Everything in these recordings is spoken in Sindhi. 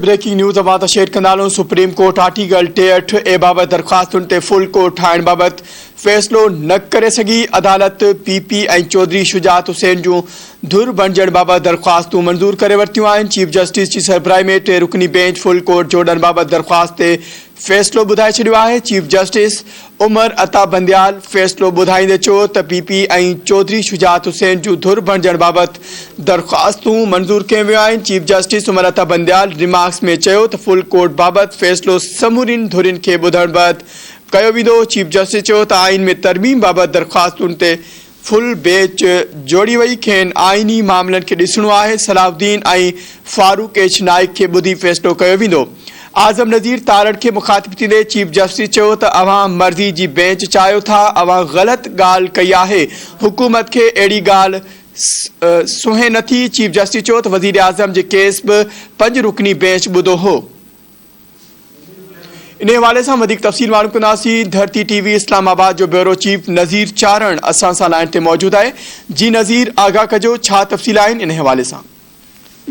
بريڪنگ نيوز اوهان سان شيئر ڪندا هلون سپريم ڪورٽ آرٽيڪل ٽيهٺ اي بابت درخواستن تي فل ڪورٽ ٺاهڻ بابت فيصلو نه ڪري سگهي عدالت پي پي ۽ چوڌري شجاعت حسين جون ڌر بڻجڻ بابت درخواستون منظور ڪري ورتيون آهن چيف جسٽس جي سربراهي ۾ ٽي رڪني بينچ فل ڪورٽ جوڙڻ بابت درخواست تي فيصلو ٻڌائي ڇڏيو آهي چيف جسٽس عمر عطا بنديال فيصلو ٻڌائيندي چيو ته پي پي ۽ چوڌري شجاعت حسين جون ڌر بڻجڻ بابت درخواستون منظور ڪيون ويون آهن، chief justice Umar Ata Bandial remarks ۾ چيو ته فل ڪورٽ بابت فيصلو سمورين ڌرين کي ٻڌڻ بعد ڪيو ويندو، چيف جسٽس چيو ته آئين ۾ ترميم بابت درخواستن تي فل بيچ جوڙي وئي، کين آئيني معاملن کي ڏسڻو آهي، صلاح الدين ۽ فاروق ايڇ نائيڪ کي ٻڌي فيصلو ڪيو ويندو. اعظم نذير تارڙ کي مخاطب ٿيندي چيف جسٽس چيو ته اوهان مرضي جي بينچ چاهيو ٿا، اوهان غلط ڳالهه ڪئي آهي، حڪومت کي اهڙي ڳالهه سونهين نٿي، چيف جسٽس چيو ته وزيراعظم جي ڪيس به پنج رڪني بينچ ٻڌو هو. انهي حوالي سان وڌيڪ تفصيل معلوم ڪنداسين ڌرتي ٽي وي اسلام آباد جو بيورو چيف نظير چارڻ اسان سان لائين تي موجود آهي جي نظير آگاهه ڪجو ڇا تفصيل آهن انهي حوالي سان.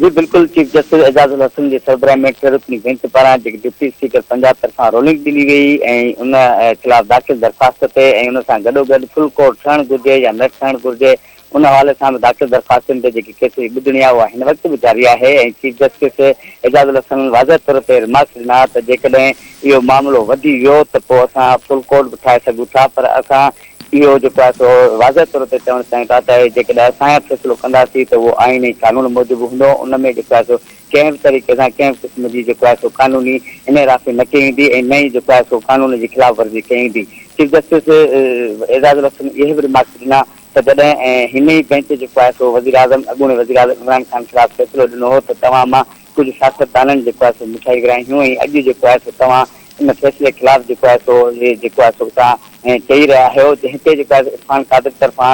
جي بلڪل چيف جسٽس اعجاز الحسن جي سربراهي ۾ ٽي رڪني بئنچ پاران جيڪي ڊپٽي اسپيڪر پنجاب طرفان رولنگ ڏني وئي ۽ ان خلاف داخل درخواست تي ۽ ان سان گڏوگڏ فل ڪورٽ ٺهڻ گهرجي يا نه ٺهڻ گهرجي ان حوالي سان به ڊاڪٽر درخواستن تي جيڪي ڪيسز ٻڌڻي آهي اها هن وقت به جاري آهي ۽ چيف جسٽس اعجاز الحسن واضح طور تي رمارڪس ڏنا ته جيڪڏهن اهو معاملو وڌي ويو ته پوء اسان فل ڪورٽ به ٺاهي سگهون ٿا پر اسان اهو جيڪو آهي سو واضح طور تي چوڻ چاهيون ٿا ته جيڪڏهن اسان فيصلو ڪنداسين ته اهو آئين ۽ قانون موجب هوندو ان ۾ جيڪو آهي سو ڪنهن به طريقي سان ڪنهن به قسم جي جيڪو آهي سو قانوني انحرافي نه ڪئي ويندي ۽ نه ئي جيڪو آهي سو قانون جي خلاف ورزي ڪئي ويندي چيف جسٽس اعجاز الحسن اهي به رمارڪس ڏنا ته جڏهن هن ئي بئنچ جو خواصو وزيراعظم اڳوڻي وزيراعظم عمران خان خلاف فيصلو ڏنو هو ته توهان مان ڪجهه سياستدانن جي خواصو مٺائي ورهائي هيون ۽ اڄ جي خواصو توهان ان فيصلي خلاف جي خواصو جي خواصو اتان چئي رهيا آهيو جنهن تي جي خواصو عرفان قادر طرفان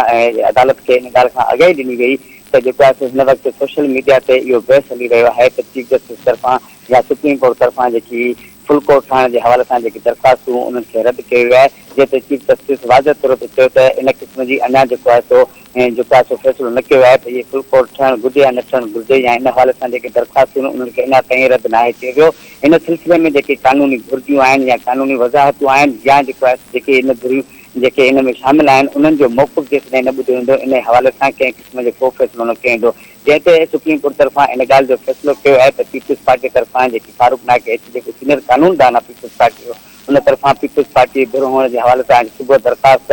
عدالت کي ان ڳالهه کان آگاهي ڏني وئي ته جي خواصو هن وقت سوشل ميڊيا تي اهو بحث هلي رهيو آهي ته چيف جسٽس طرفان يا سپريم ڪورٽ طرفان جيڪي فل ڪورٽ ٺاهڻ جي حوالي سان جيڪي درخواستون انهن کي رد ڪيو ويو آهي جنهن تي چيف جسٽس واضح طور تي چيو ته ان قسم جي اڃا جيڪو آهي سو ۽ جيڪو آهي سو فيصلو نه ڪيو ويو آهي ته اهي فل ڪورٽ ٺهڻ گهرجي يا نه ٺهڻ گهرجي يا ان حوالي سان جيڪي درخواستون آهن انهن کي اڃا تائين رد ناهي ڪيو ويو ان سلسلي ۾ جيڪي قانوني گهرجون آهن يا قانوني وضاحتون آهن يا جيڪو آهي سو جيڪي ان گهريون جيڪي ان ۾ شامل آهن انهن جو موقف جيسيتائين نه ٻڌو ويندو ان حوالي سان ڪنهن قسم جو ڪو فيصلو نه ڪيو ويندو جنهن تي سپريم ڪورٽ طرفان ان ڳالهه جو فيصلو ڪيو آهي ته پيپلز پارٽي طرفان جيڪي فاروق نائڪ ايڇ جيڪو سينئر قانوندان آهي پيپلز پارٽي جو ان طرفان پيپلز پارٽي ڌر هئڻ جي حوالي سان اڄ صبح درخواست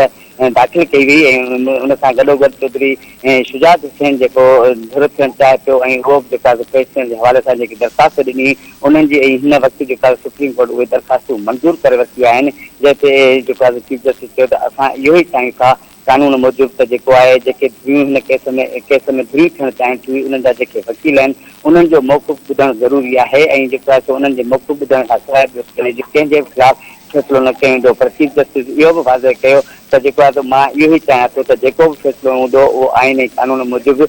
داخل ڪئي وئي ۽ ان سان گڏوگڏ چوڌري شجاعت حسين جيڪو ڌر ٿيڻ چاهي پيو ۽ اهو به جيڪا پيش ٿيڻ جي حوالي سان جيڪي درخواست ڏني انهن جي ۽ هن وقت جيڪا سپريم ڪورٽ اهي درخواستون منظور ڪري ورتيون آهن جنهن تي جيڪو چيف جسٽس چيو ته اسان اهو ئي چاهيون ٿا قانون موجب ته جيڪو آهي، جيڪي ڌريون هن ڪيس ۾ ڪيس ۾ ڌريون ٿيڻ چاهين ٿيون انهن جا جيڪي وڪيل آهن انهن جو موقف ٻڌڻ ضروري آهي ۽ جيڪو آهي سو انهن جي موقف ٻڌڻ کان سواء ٻيو ڪنهن جي ڪنهن جي به خلاف فيصلو نه ڪيو ويندو پر چيف جسٽس اهو به واضح ڪيو ته جيڪو آهي سو مان اهو ئي چاهيان ٿو ته جيڪو به فيصلو هوندو اهو آئين ۽ قانون موجب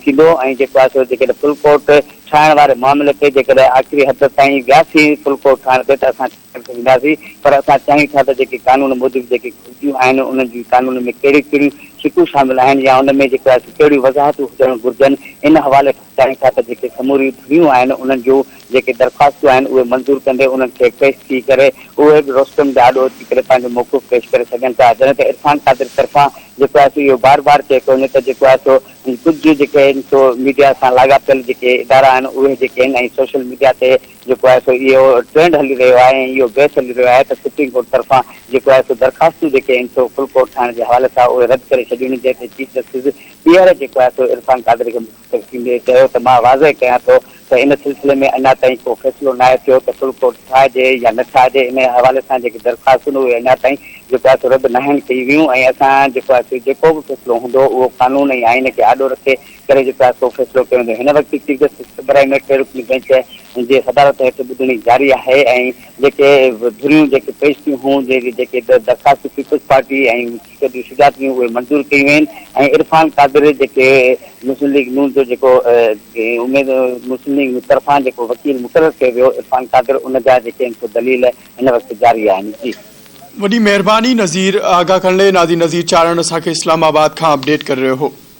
ٿيندو ۽ جيڪو آهي سو جيڪڏهن فل ڪورٽ ٺاهڻ واري معاملي تي جيڪڏهن آخري حد تائين وياسين فل ڪورٽ ٺاهڻ تي ته اسان سگهنداسين پر اسان چاهيون ٿا ته جيڪي قانون موجب جيڪي گهرجون آهن انهن جي قانون ۾ ڪهڙيون ڪهڙيون شقون شامل آهن يا ان ۾ جيڪو آهي سو ڪهڙيون وضاحتون هجڻ گهرجن ان حوالي کان چاهيون ٿا ته جيڪي سموريون ڌريون آهن انهن جون جيڪي درخواستون آهن اهي منظور ڪندي انهن کي پيش ٿي ڪري اهي به روسٽم جي آڏو اچي ڪري پنهنجو موقف پيش ڪري سگهن ٿا جڏهن ته عرفان قادر طرفان جيڪو آهي سو اهو بار بار چئي پيو وڃي ته جيڪو آهي سو ڪجهه جيڪي آهن سو ميڊيا سان لاڳاپيل جيڪي ادارا آهن اهي جيڪي آهن ۽ سوشل ميڊيا تي جيڪو آهي سو اهو ٽرينڊ هلي رهيو آهي ۽ اهو بحث هلي رهيو آهي ته سپريم ڪورٽ طرفان جيڪو آهي سو درخواستون جيڪي آهن سو فل ڪورٽ ٺاهڻ جي حوالي سان اهي رد ڪري ڇڏيون جنهن تي چيف جسٽس ٻيهر جيڪو آهي سو عرفان قادري کي مخاطب ٿيندي چيو ته مان واضح ڪيان ٿو ته ان سلسلي ۾ اڃا تائين ڪو فيصلو ناهي ٿيو ته فل ڪورٽ ٺاهجي يا نه ٺاهجي ان حوالي سان جيڪي درخواستون اهي اڃا تائين جيڪو آهي سو رد ناهن ڪيون ويون ۽ اسان جيڪو آهي سو جيڪو به فيصلو هوندو اهو قانون ۽ آئين کي آڏو رکي ڪري چڪو آهي سو فيصلو ڪيو ويندو هن وقت چيف جسٽس ابراهيم ميٽ رڪني بئنچ جي صدارت هيٺ ٻڌڻي جاري آهي ۽ جيڪي به ڌريون جيڪي پيش ٿيون هون جيڪي به درخواستون پيپلز پارٽي ۽ ڏي شجاعت ڏينهن اهي منظور ڪيون وين ۽ عرفان قادر جيڪي مسلم ليگ نون جو جيڪو اميد مسلم ليگ نون طرفان جيڪو وڪيل مقرر ڪيو ويو عرفان قادر ان جا جيڪي آهن سو دليل هن وقت جاري آهن جي وڏي مهرباني نظير آغا ڪنڙي نادي نظير چارڻ اسان کي اسلام آباد کان اپڊيٽ ڪري رهيو هو.